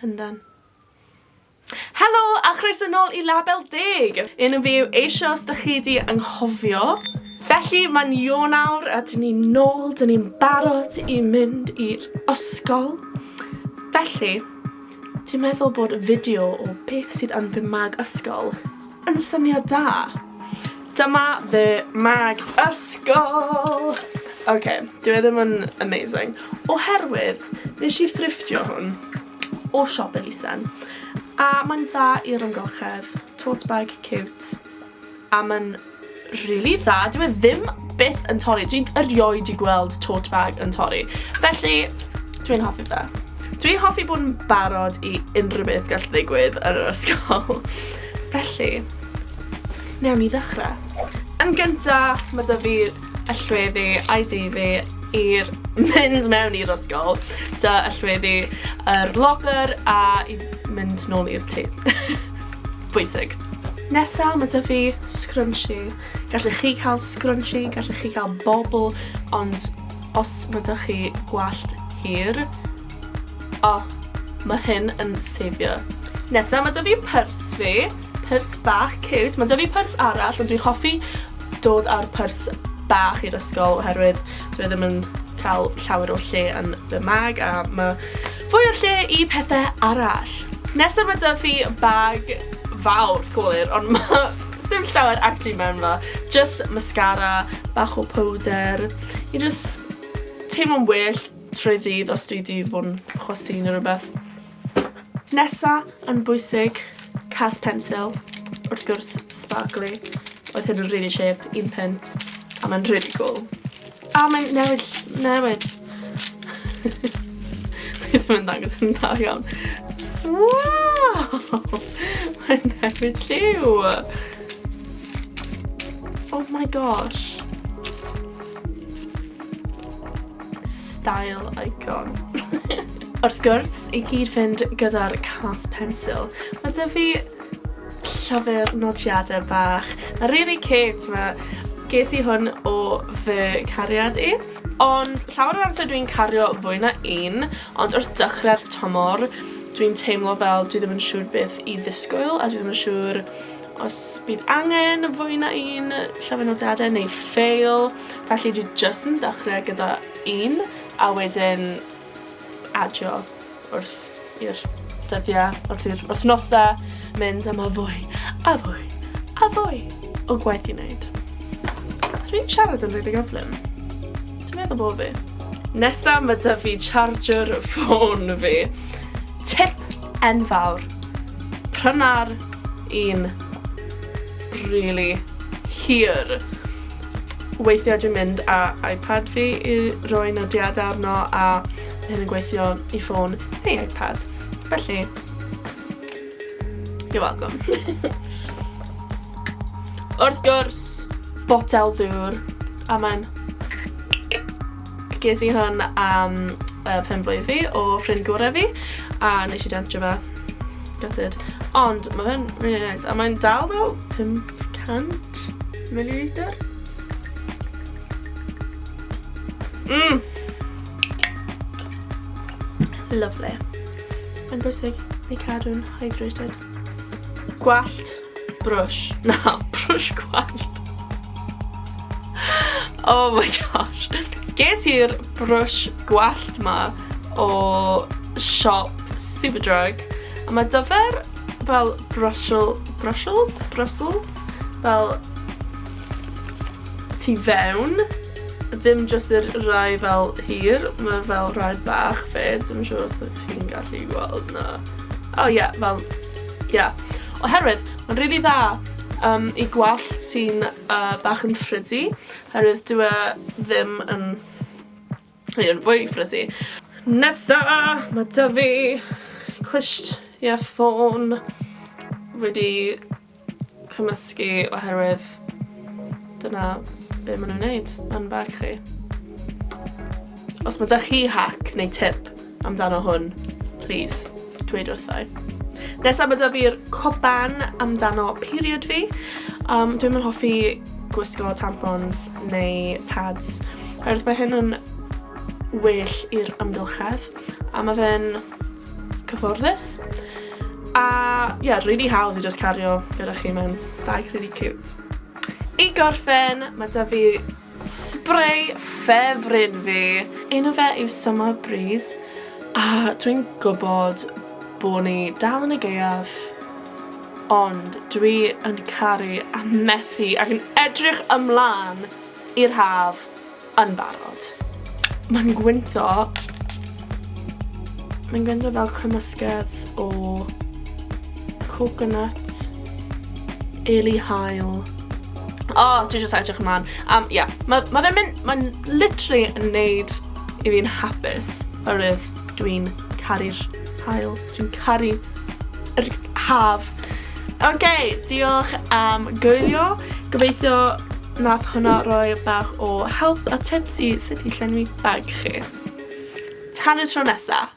Llundain. Helo a chroeso nôl i Label Deg! Yn y fyw eisiau os dych chi di anghofio. Felly mae'n Ionawr a dyn ni'n nôl, dyn ni'n barod i mynd i'r ysgol. Felly, dwi'n meddwl bod fideo o beth sydd yn fy mag ysgol yn syniad da. Dyma fy mag ysgol! Ok, dyw e ddim yn amazing. Oherwydd, nes i thrifftio hwn o siop elusen. A mae'n dda i'r amgylchedd, tote bag cute, a mae'n rili dda, dyw e ddim byth yn torri. Dwi'n erioed i gweld tote bag yn torri. Felly, dwi'n hoffi fe. Dwi'n hoffi bod yn barod i unrhyw beth gall ddigwydd yn yr ysgol. Felly, newn ni ddechrau. Yn gyntaf, mae da fi y llweddi a'i di fi i'r mynd mewn i'r ysgol. Da y llweddi yr locker a i mynd nôl i'r tŷ. Pwysig. Nesa, mae 'da fi scrunchie. Gallech chi cael scrunchie, gallech chi cael bobl, ond os mae 'da chi gwallt hir, o, oh, mae hyn yn sefio. Nesa, mae 'da fi pers fi, pers bach cute. Mae 'da fi pers arall, ond dwi'n hoffi dod â'r pers bach i'r ysgol oherwydd dwi e ddim yn cael llawer o lle yn fy mag a mae Fwy o lle i pethe arall. Nesa ma' 'da fi bag fawr, cywir, ond ma' sdim llawer actually mewn fo. Jyst mascara, bach o powder, i jyst teimlo'n well trwy ddydd os dwi 'di fod yn chwysu neu rhywbeth. Nesa, yn bwysig, cas pensil, wrth gwrs, sparkly. Oedd hyn yn rili chip, un punt, a ma'n rili cwl. A mae'n newid, newid. Dwi ddim yn dangos yn dda iawn. Wow! Mae'n newid lliw! Oh my gosh. Style icon. Wrth gwrs, i gyd fynd gyda'r cas pensil, mae dyfu fi Llyfr nodiadau bach. Mae'n really cute, ma'... Ges i hwn o fy cariad i. Ond llawer o'r amser dwi'n cario fwy na un, ond wrth dechrau'r tymor, dwi'n teimlo fel dwi ddim yn siŵr beth i ddisgwyl, a dwi ddim yn siŵr os bydd angen fwy na un llyfr nodiadau neu ffeil, felly dwi jyst yn dechrau gyda un, a wedyn adio wrth i'r dyddiau, wrth i'r wythnosau mynd am y fwy, a fwy, a fwy o gwaith i wneud. Dwi'n siarad yn rili gyflym. Dwi'n meddwl bod fi. Nesa mae dy fi charger ffôn fi. Tip enfawr. Pryna'r un rili hir. Weithiau dwi'n mynd â iPad fi i roi nodiadau arno a mae hyn yn gweithio i ffôn neu iPad. Felly, you're welcome. Wrth gwrs, botel ddŵr a mae'n Ges i hwn am uh, pen blwydd fi o ffrind gorau fi a nes i dentro fe. Gutted. Ond mae fe'n really nice a mae'n dal fel 500 milliliter. Mmm! Lovely. Mae'n bwysig i cadw'n hydrated. Gwallt Brush. Na, brush gwallt. Oh my gosh. Ges i'r brush gwallt ma o siop Superdrug. A mae dyfer fel brushel, brushels, brussels, fel tu fewn. Dim just yr rai fel hir, mae fel rai bach fe. Dim siŵr os ydych chi'n gallu gweld na. Oh yeah, fel Ie. Yeah. Oherwydd, mae'n rili really dda um, i gwallt sy'n uh, bach yn ffrydi, oherwydd dwi e ddim yn... Yn fwy ffrydi. Nesa, mae da fi clisht ie ffôn wedi cymysgu oherwydd dyna be maen nhw'n wneud yn bag chi. Os mae da chi hack neu tip amdano hwn, please, dweud wrtho i. Nesaf mae da fi'r coban amdano period fi. Um, dwi'n mynd hoffi gwisgo tampons neu pads. Oherwydd mae hyn yn well i'r amgylchedd. A mae fe'n cyfforddus. A, ie, yeah, really hawdd i just cario gyda chi mewn bag really cute. I gorffen, mae da fi Spray ffefryn fi! Enw fe yw Summer Breeze a dwi'n gwybod bo' ni dal yn y gaeaf ond dwi yn caru a methu ac yn edrych ymlan i'r haf yn barod. Mae'n gwyntog mae'n gwyntog fel cymysgedd o coconut Eli Hael. O, oh, dwi jyst edrych ymlaen. Um, yeah. Mae ma fe'n mynd, mae'n literally yn neud i fi'n hapus. Oherwydd dwi'n caru'r hael. Dwi'n caru yr haf. Oce, okay, diolch am gwylio. Gobeithio nath hwnna roi bach o help a tips i sut i llenwi bag chi. Tan y tro nesaf.